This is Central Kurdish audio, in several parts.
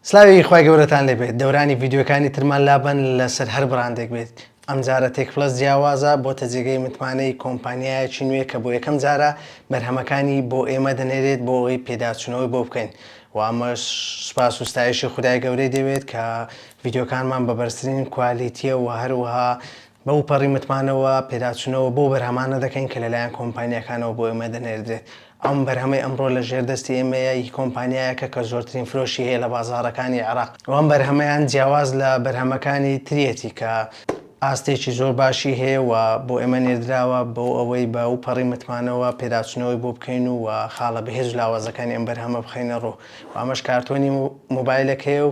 سلاوی خوای گەورەتان لێبێت دەورانی ڤیدیۆکانی ترمان لابەن لەسەر هەر بڕاندێک بێت ئەمجارە تێک پلەس جیاوازە بۆتە جێگەی متمانەی کۆمپانیایەکی نوێ کە بۆ یەکەم جارە بەرهەمەکانی بۆ ئێمە دەنێرێت بۆ ئەوی پێداچوونەوەی بۆ بکەین و ئەمەش سپاس و ستایشی خدای گەورەی دەوێت کە ڤیدیۆکانمان بە بەرزترین کوالیتیە و هەروەها بەوپەڕی متمانەوە پێداچونەوە بەو بەرهەمانە دەکەین کە لەلایەن کۆمپانیاکانەوە بۆ ئێمە دەنێردرێت، ئەم بەرهەمەی ئەمڕۆ لە ژێر دەستی ئێمەیە ی کۆمپانیایەکە کە زۆرترین فرۆشی هەیە لە بازاڕەکانی عێراق و ئەم بەرهەمەیان جیاواز لە بەرهەمەکانی تریەتی کە ئاستێکی زۆر باشی هەیە و بۆ ئێمە نێردراوە بۆ ئەوەی بە وپەڕی متمانەوە پێداچونەوەی بۆ بکەین و خاڵە بەهێز و لاوازەکانی ئەم بەرهەمە بخەینەڕوو و ئەمەش کارتۆنی موبایلەکەیە و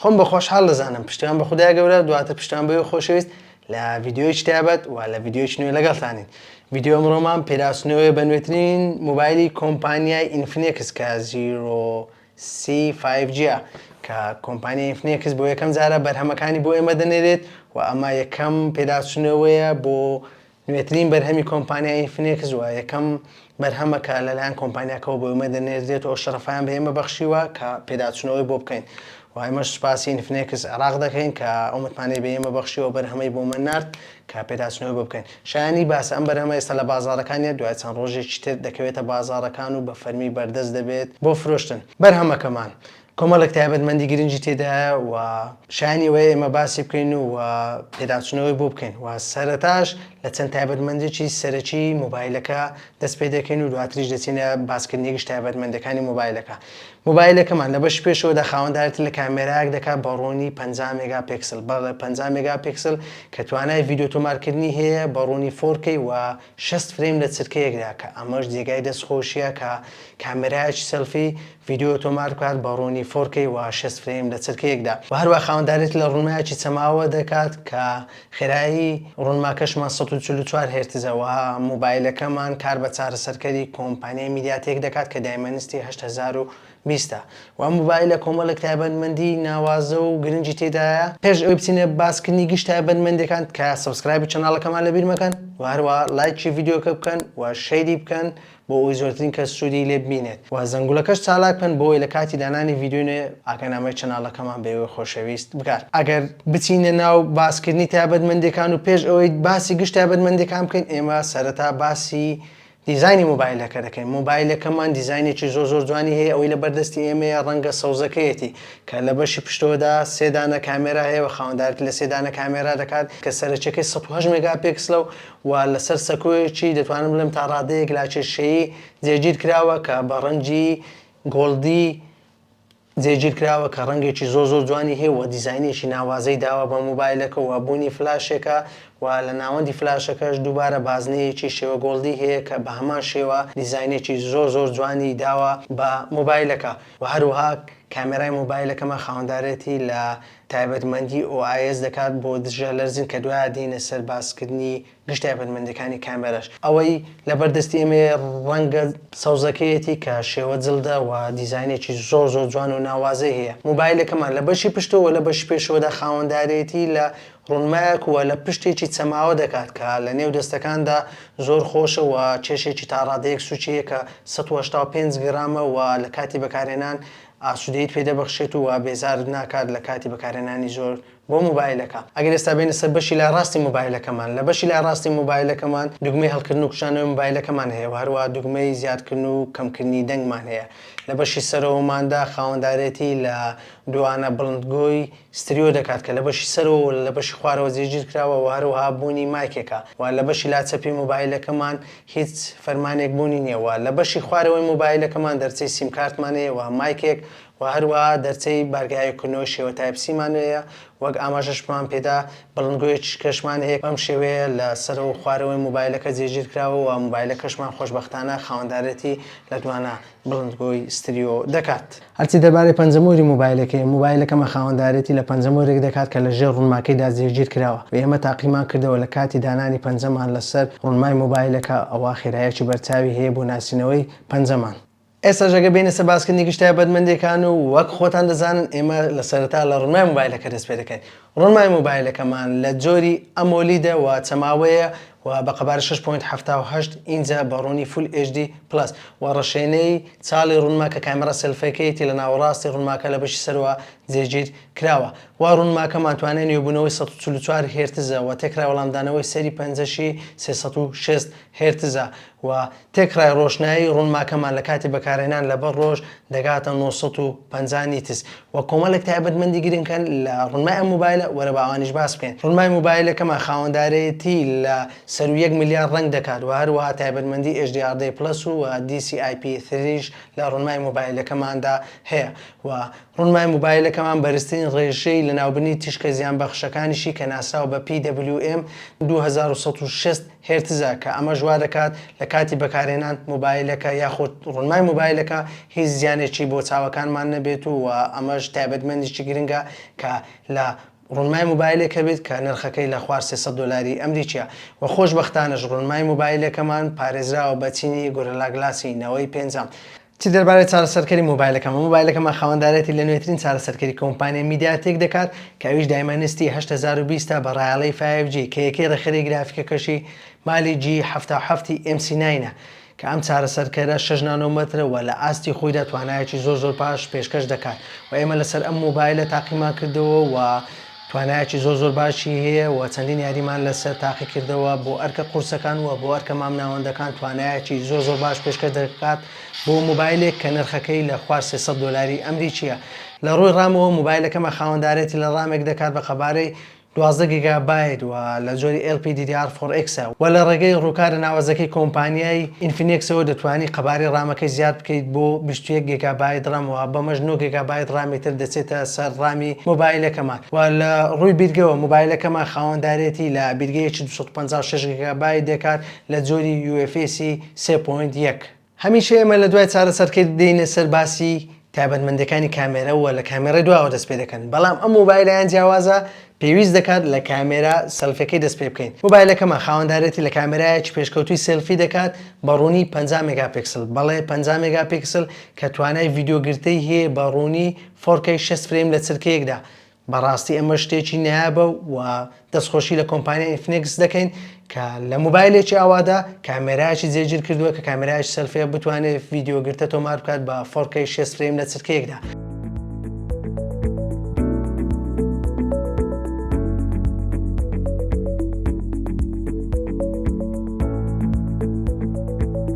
خۆم بە خۆشحاڵ دەزانم پشتیوان بە خودای گەورە دواتر پشتیوان بە وێ خۆشەویست لە ڤیدیۆیچ تایبەت و لە ڤیدیۆیچ نوێ لەگەڵتانین ڤیدیۆ ئەمڕۆمان پیراسنەوەی بە نوێترین موبایلی کۆمپانیای ئینفنێکس کە زیرۆ سی فایڤ جیە کە کۆمپانیای ئینفنێکس بۆ یەکەم جارە بەرهەمەکانی بۆ ئێمە دەنێرێت و ئەمە یەکەم پیراسنەوەیە بۆ نوێترین بەرهەمی کۆمپانیای ئینفنێکس و یەکەم بەرهەمە کە لەلایەن کۆمپانیاکەوە بۆ ئێمە دەنێردرێت و ئەو شەرەفەیان بە ئێمە بەخشیوە کە پێداچوونەوەی بۆ بکەین و ئێمەش سوپاسی ئینفنێکس عێراق دەکەین کە ئەو متمانەی بە ئێمە بەخشیوە بەرهەمەی بۆمان نارد کە پێداچوونەوەی بۆ بکەین شایانی باسە ئەم بەرهەمە ئێستا لە بازاڕەکانیە دوای چەند ڕۆژێکی تر دەکەوێتە بازاڕەکان و بە فەرمی بەردەست دەبێت بۆ فرۆشتن بەرهەمەکەمان کۆمەڵێک تایبەتمەندی گرنگی تێدایە و شایانی ئەوەیە ئێمە باسی بکەین و و پێداچوونەوەی بۆ بکەین و سەرەتاش لە چەند تایبەتمەندێکی سەرەکی مۆبایلەکە دەست پێ دەکەین و دواتریش دەچینە باسکردنی گشت تایبەتمەندەکانی مۆبایلەکە مۆبایلەکەمان لە بەشی پێشەوەدا خاوەندارێتی لە کامێرایەک دەکات بە ڕوونی پەنجا مێگا پێکسل بەڵێ پەنجا مێگا پێکسل کە توانای ڤیدیۆ تۆمارکردنی هەیە بە ڕوونی فۆر کەی و شەست فرەیم لە چرکەیەکدا کە ئەمەش جێگای دەست خۆشیە کە کامێرایەکی سێلفی ڤیدیۆ تۆمار بکات بە ڕوونی فۆر کەی و شەست فرەیم لە چرکەیەکدا و هەروە خاوەندارێتی لە ڕوونمایەکی چەماوە دەکات کە خێرایی ڕوونماکەشمان سەد و چل و چوار هێرتزە و مۆبایلەکەمان کار بە چارەسەرکەری کۆمپانیای میدیاتێک دەکات کە دایمەنستی هەشت هەزار و بیستە و ئەم مۆبایلە کۆمەڵێک تایبەتمەندی ناوازە و گرنگی تێدایە پێش ئەوەی بچینە باسکردنی گشت تایبەتمەندیەکان تکایە سەبسکرایبی چەناڵەکەمان لەبیر مەکەن و هەروەها لایکی ڤیدیۆکە بکەن و شەیری بکەن بۆ ئەوەی زۆرترین کەس سوودی لێ ببینێت و زەنگولەکەش چالاک بکەن بۆ ئەوەی لە کاتی دانانی ڤیدیۆی نوێ ئاگانامەی چەناڵەکەمان بە ئێوەی خۆشەویست بگات ئەگەر بچینە ناو باسکردنی تایبەتمەندیەکان و پێش ئەوەی باسی گشت تایبەتمەندیەکان بکەین ئێمە سەرەتا باسی دیزاینی مۆبایلەکە دەکەین مۆبایلەکەمان دیزاینێکی زۆر زۆر جوانی هەیە ئەوەی لە بەردەستی ئێمەیە ڕەنگە سەوزەکەیەتی کە لە بەشی پشتەوەدا سێ دانە کامێرا هەیە و خاوەندارێتی لە سێ دانە کامێرا دەکات کە سەرەکیەکەی سەد و هەشت مێگا پێکسلە و و لەسەر سەکۆیەکی دەتوانم بڵێم تا ڕادەیەک لاکێشەیی جێگیر کراوە کە بە ڕەنگی گۆڵدی جێگیرکراوە کە ڕەنگێکی زۆر زۆر جوانی هەیە و دیزاینێکی ناوازەی داوە بە مۆبایلەکە و بوونی فلاشێکە و لە ناوەندی فلاشەکەش دووبارە بازنەیەکی شێوە گۆڵدی هەیە کە بە هەمان شێوە دیزاینێکی زۆر زۆر جوانی داوە بە مۆبایلەکە و هەروەها کامێرای مۆبایلەکەمان خاوەندارێتی لە تایبەتمەندی OIS دەکات بۆ دژە لەرزین کە دوایە دێینە سەر باسکردنی گشت تایبەتمەندیەکانی کامێراش ئەوەی لەبەر دەستی ئێمەیە ڕەنگە سەوزەکەیەتی کە شێوە جلدە و دیزاینێکی زۆر زۆر جوان و ناوازەی هەیە موبایلەکەمان لە بەشی پشتەوە و لە بەشی پێشەوەدا خاوەندارێتی لە ڕونمایەک و لە پشتێکی چەماوە دەکات کە لە نێو دەستەکاندا زۆر خۆشە و کێشێکی تا ڕادەیەک سوکی یە کە سەد و هەشتا و پێنج گرامە و لە کاتی بەکارهێنان ئاسودەیت پێ دەبەخشێت و بێزارت ناکات لە کاتی بەکارهێنانی زۆر بۆ مۆبایلەکە ئەگەر ئێستا بێینە سەر بەشی لای ڕاستی مۆبایلەکەمان لە بەشی لای ڕاستی مۆبایلەکەمان دوگمەی هەڵکردن و کشانەوەی مۆبایلەکەمان هەیە و هەروەها دوگمەی زیادکردن و کەمکردنی دەنگمان هەیە لە بەشی سەرەوەماندا خاوەندارێتی لە دووانە بڵندگۆی ستریۆ دەکات کە لە بەشی سەرەوە و لە بەشی خوارەوە جێگیر کراوە و هەروەها بوونی مایکێکە و لە بەشی لا چەپی مۆبایلەکەمان هیچ فەرمانێک بوونی نییە و لە بەشی خوارەوەی مۆبایلەکەمان دەرچەی سیمکارتمان هەیە و مایکێک و هەروەها دەرچەی بارگەهای کردنەوەی شێوە تایپ سیمان هەیە، وەک ئاماژەشمان پێدا بەڵندگۆیەکی شکەشمان هەیە بەم شێوەیە لە سەرە و خوارەوەی موبایلەکە جێگیر کراوە و موبایلەکەشمان خۆشبەختانە خاوەندارێتی لە دوانە بڵندگۆی ستریۆ دەکات. هەرچی دەربارەی پەنجەمۆری موبایلەکەیە، موبایلەکەمان خاوەندارێتی لە پەنجەمۆرێک دەکات کە لە ژێر ڕونماکەیدا جێگیر کراوە و ئێمە تاقیمان کردەوە لە کاتی دانانی پەنجەمان لە سەر ڕونمای موبایلەکە ئەوا خێرایەکی بەرچاوی هەیە بۆ ناسینەوەی پەنجەمان. ئێستاش ئەگەر بێینە سەر باسکردنی گشت تایبەتمەندییەکان و وەک خۆتان دەزانن ئێمە لە سەرەتا لە ڕونمای مۆبایلەکە دەست پێ دەکەین. ڕونمای مۆبایلەکەمان لە جۆری ئەمۆلیدە و چەماوەیە و بە قەبارەی شەش پۆینت حەفتا و هەشت ئینجە بە ڕوونی فول ئێچ دی پڵەس و ڕەشێنەی چاڵی ڕونما کە کامێرا سێلفەکەیەتی لە ناوەڕاستی ڕونماکە لە بەشی سەرەوە جێگیر کراوە و ڕونماکەمان توانای نوێبوونەوەی سەد و چل و چوار هێرتزە و تێکرای وەڵامدانەوەی سەیری پەنجەشی سێ سەد و شەست هێرتزە و تێکڕای ڕۆشنایی ڕونماکەمان لە کاتی بەکارهێنان لەبەر ڕۆژ دەگاتە نۆ سەد و پەنجا نیتس وە کۆمەڵێک تایبەتمەندی گرنکە لە ڕونمای ئەم مۆبایلە وەرە با ئەوانیش باس بکەین ڕونمای مۆبایلەکەمان خاوەندارێتی لە سەروو یەک ملیار ڕەنگ دەکات وە هەروەها تایبەتمەندی ئێچ دی ئاڕ دی پڵەس و دی سی ئای پی ثریش لە ڕونمای مۆبایلەکەماندا هەیە وە ڕونمای مۆبایلەکەمان بەرزترین ڕێژەی لەناوبرنی تیشکە زیانبەخشەکانیشی کە ناسراوە بە پی دەبلیو ئێم دوو هەزار و سەد و شەست هێرتزە، کە ئەمەش وا دەکات لە کاتی بەکارهێنان مۆبایلەکە یاخود ڕونمای مۆبایلەکە هیچ زیانێکی بۆ چاوەکانمان نەبێت و ئەمەش تایبەتمەندیی گرنگە کە لە ڕونمای مۆبایلێک هەبێت کە نرخەکەی لە خوار سێ سەد دۆلاری ئەمریکییە و خۆشبەختانەش ڕونمای مۆبایلەکەمان پارێزراوە بە چینی گۆرلا گلاسی نەوەی پێنجەم چی دەربارەی چارەسەرکەری مۆبایلەکەمە؟ مۆبایلەکەمان خاوەندارێتی لە نوێترین چارەسەرکەری کۆمپانیای میدیاتێک دەکات کە ئەویش دایمەنستی هەشت هەزار و بیست ە بە ڕایەڵەی فایڤ جی کە یەکەی ڕێکخەری گرافیکەکەشی مالی جی حەفتا و حەفت ی ئێم سی ناین ە کە ئەم چارەسەرکەرە شەش نانۆمەترە و لە ئاستی خۆیدا توانایەکی زۆر زۆر باش پێشکەش دەکات و ئێمە لەسەر ئەم مۆبایلە تاقیمان کردەوە و توانایەکی زۆر زۆر باشی هەیە و چەندین یاریمان لەسەر تاقی کردەوە بۆ ئەرکە قورسەکان و بۆ ئەرکە مامناوەندەکان توانایەکی زۆر زۆر باش پێشکەش دەکات بۆ موبایلێک کە نرخەکەی لە خوار سێ سەد دۆلاری ئەمریکیە لە ڕووی ڕامەوە موبایلەکەمە خاوەندارێتی لە ڕامێک دەکات بە قەبارەی دوازدە گیگا بایت و لە جۆری ئێڵ پی دی دی ئاڕ فۆڕ ئێکس ە و لە ڕێگەی ڕووکارە ناوەزەکەی کۆمپانیای ئینفینێکسەوە دەتوانی قەبارەی ڕامەکەی زیاد بکەیت بۆ بیست و یەک گیگا بایت ڕام و بەمەش نۆ گیگا بایت ڕامی تر دەچێتە سەر ڕامی مۆبایلەکەمان، و لە ڕووی بیرگەوە مۆبایلەکەمان خاوەندارێتی لە بیرگەیەکی دوو سەد و پەنجا و شەش گیگابایت دەکات لە جۆری UFS ی سێ پۆینت یەک. هەمیشە ئێمە لە دوای چارەسەرکرد دێینە سەر باسی تایبەتمەندیەکانی کامێرە و لە کامێرای دواوە دەست پێ دەکەن بەڵام ئەم مۆبایلەیان جیاوازە پێویست دەکات لە کامێرا سێلفیەکەی دەست پێ بکەین مۆبایلەکەمان خاوەندارێتی لە کامێرایەکی پێشکەوتووی سێلفی دەکات بە ڕوونی پەنجا مێگا پیکسل بەڵێ پەنجا مێگا پیکسل کە توانای ڤیدیۆ گرتەی هەیە بە ڕوونی فۆرکەی شەست فرەیم لە چرکەیەکدا بەڕاستی ئەمە شتێکی نایابە و دەستخۆشی لە کۆمپانیای ئینفنێکس دەکەین کە لە موبایلێکی ئاوادا کامێرایکی جێگیر کردووە کە کامێرایش سەلفەیە بتوانێت ڤیددیوگرتە تۆمار بکات بە فۆرکەی شەست فرەیم لە چرکەیەکدا.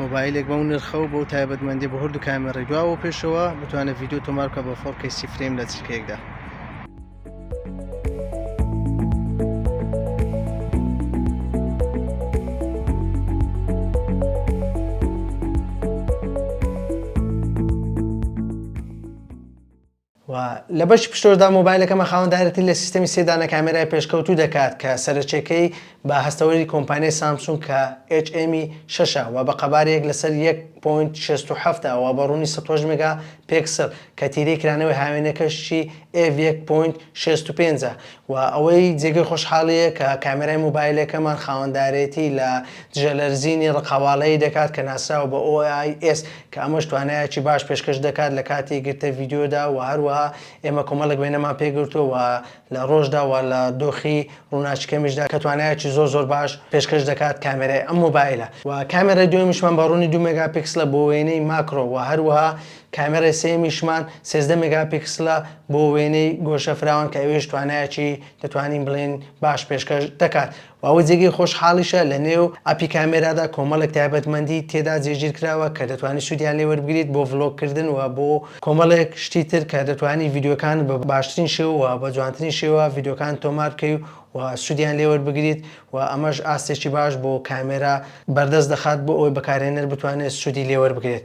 مۆبایلێک بەو نرخە و بەو تایبەتمەندی بە هەردوو کامێڕی دواوە و پێشەوە بتوانێت ڤیددیو تۆمار بکە بە فۆڕکەی سی فرەیم لە چرکەیەکدا. و لە بەشی پشتۆشدا مۆبایلەکەمان خاوەن دایرەکتری لە سیستەمی سێ دانە کامێرای پێشکەوتوو دەکات کە سەرەچێکەی بە هەستەوەری کۆمپانیای سامسونگ کە HM ی شەش ە و بە قەبارە یەک لەسەر یەک پۆینت شەست و حەفت ە و بە ڕوونی سەد و هەشت مێگا پێکسڵ کە تیرەی کرانەوەی هاوێنەکەشی ئێڤ یەک پۆینت شەست و پێنج ە وە ئەوەی جێگەی خۆشحاڵییە کە کامێرای مۆبایلەکەمان خاوەندارێتی لە دژەلەرزینی ڕقەواڵەیی دەکات کە ناسراوە بە OIS کە ئەمەش توانایەکی باش پێشکەش دەکات لە کاتی گرتە ڤیدیۆدا وە هەروەها ئێمە کۆمەڵێک وێنەمان پێ گرتووە وە لە ڕۆژدا وە لە دۆخی ڕووناکی کەمیشدا کە توانایەکی زۆر زۆر باش پێشکەش دەکات کامێرای ئەم مۆبایلە وە کامێرای دووەمیشمان بە ڕوونی دوو مێگا پیکسلە بۆ وێنەی ماکرۆ وە هەروەها کامێرای سێیەمیشمان سێزدە مێگاپیکسلە بۆ وێنەی گۆشە فراوان کە ئەوێش توانایەکی دەتوانین بڵێین باش پێشکەش دەکات و ئەوەی جێگەی خۆشحاڵیشە لە نێو ئەپی کامێرادا کۆمەڵێک تایبەتمەندی تێدا جێگیر کراوە کە دەتوانی سوودیان لێ وەربگریت بۆ ڤڵۆگ کردن و بۆ کۆمەڵێک شتی تر کە دەتوانی ڤیدیۆکانت بە باشترین شێوە و بە جوانترین شێوە ڤیدیۆکانت تۆمار بکەی و سوودیان لێ وەربگریت و ئەمەش ئاستێکی باش بۆ کامێرا بەردەست دەخات بۆ ئەوەی بەکارهێنەر بتوانێت سوودی لێ وەربگرێت.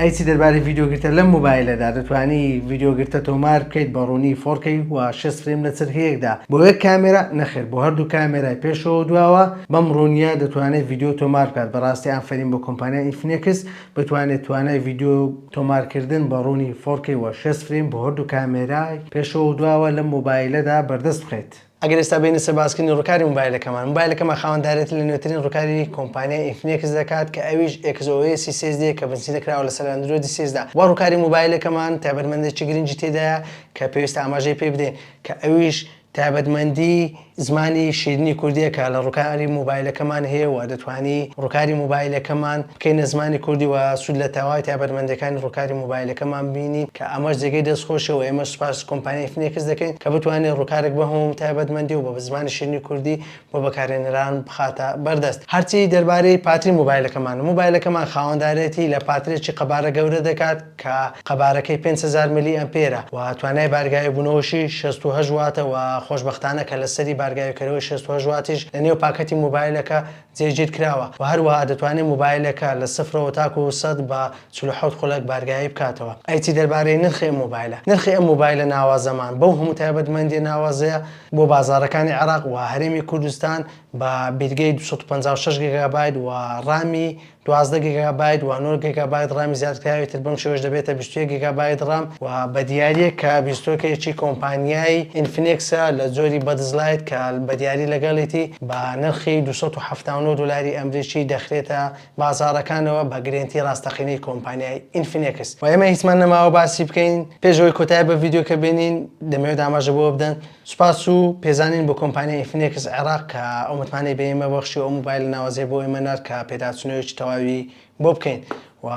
ئەی چی دەربارەی ڤیدیۆ گرتە لەم موبایلەدا دەتوانی ڤیدیۆ گرتە تۆمار بکەیت بە ڕوونی فۆرکەی و شێست فریم لە چرکەیەکدا بۆ یەک کامێرا نەخێر بۆ هەردوو کامێرای پێشەوە دواوە بەم ڕوونیە دەتوانێت ڤیدیۆ تۆمار بکات بەڕاستی ئافەرین بۆ کۆمپانیای ئینفینێکس بتوانێت توانای ڤیدیۆ تۆمارکردن بە ڕوونی فۆرکەی و شێست فریم بۆ هەردوو کامێرای پێشەوە دواوە لەم موبایلەدا بەردەست بخەیت ئەگەر ئێستا بێینە سەر باسکردنی ڕووکاری مۆبایلەکەمان، مۆبایلەکەمان خاوەندارێتی لە نوێترین ڕووکاری کۆمپانیای ئینفینێکس دەکات کە ئەویش ئێکس ئۆ ئێسی سێ دێ کە بنچینە کراوە لەسەر ئەندرۆیدی سێزدە وە ڕووکاری مۆبایلەکەمان تایبەتمەندێکی گرنگی تێدایە کە پێویستە ئاماژەی پێ بدەین کە ئەویش تایبەتمەندی زمانی شیرینی کوردییە کە لە ڕووکاری مۆبایلەکەمان هەیە و دەتوانی ڕووکاری مۆبایلەکەمان بکەینە زمانی کوردی و سوود لە تەواوی تایبەتمەندییەکانی ڕووکاری مۆبایلەکەمان ببینین کە ئەمەش جێگەی دەستخۆشیە و ئێمەش سوپاس کۆمپانیای فنێکس دەکەین کە بتوانێت ڕووکارێک بەم هەموو تایبەتمەندی و بە زمانی شیرینی کوردی بۆ بەکارهێنەران بخاتە بەردەست. هەرچی دەربارەی پاتری مۆبایلەکەمانە، مۆبایلەکەمان خاوەندارێتی لە پاترێکی قەبارە گەورە دەکات کە قەبارەکەی پێنج هەزار ملی ئەمپێرە و توانای بارگاوی بوونەوەشی شەست و هەشت واتە و خۆشبەختانە کە لەسەری بارگاویکەرەوەی شەست و هەشت واتیش لەنێو پاکەتی مۆبایلەکە جێگیر کراوە و هەروەها دەتوانێت مۆبایلەکە لە سفرەوە تاکو سەد بە چل و حەوت خولەک بارگایی بکاتەوە. ئەی چی دەربارەی نرخی ئەم مۆبایلە؟ نرخی ئەم مۆبایلە ناوازەمان بەو هەموو تایبەتمەندیە ناوازەیە بۆ بازاڕەکانی عێراق و هەرێمی کوردستان بە بیرگەی دوو سەد و پەنجا و شەش گیگابایت و ڕامی دوازدە گیگابایت و نۆ گیگابایت ڕامی زیادکراوی تر بەم شێوەش دەبێتە بیست و یەک گیگابایت ڕام و بە دیارییەک کە بیستۆکێکی کۆمپانیای ئینفنێکس ە لە جۆری بەدز لایت کە بە دیاری لەگەڵیتی بە نرخی دوو سەد و حەفتا و نۆ دۆلاری ئەمریکی دەخرێتە بازاڕەکانەوە بە گرێنتی ڕاستەقینەی کۆمپانیای ئینفنێکس و ئێمە هیچمان نەماوە باسی بکەین پێش ئەوەی کۆتایی بە ڤیدیۆکە بێنین دەمەوێت ئاماژە بەوە بدەن سوپاس و پێزانین بۆ کۆمپانیای ئینفینێکس عێراق کە ئەو متمانەی بە ئێمە بەخشی و ئەو مۆبایلە ناوازەی بۆ ئێمە نارد کە پێداچوونەوەیەکی تەواوی بۆ بکەین و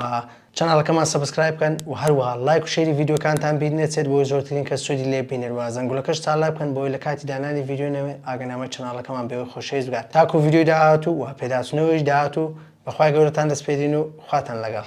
چەناڵەکەمان سەبسکرایب بکەن و هەروەها لایک و شەیری ڤیدیۆکانتان بیر نەچێت بۆی زۆرترین کەس سوودی لێ ببینێت و زەنگوڵەکەش چالاک بکەن بۆی لە کاتی دانانی ڤیدیۆ نەوێ ئاگەنامەی چەناڵەکەمان بەوێ خۆشەویست بگات تاکو ڤیدیۆی داهاتوو و پێداچوونەوەیەکی داهاتوو بەخوای گەورەتان دەسپێرین و خواتان لەگەڵ.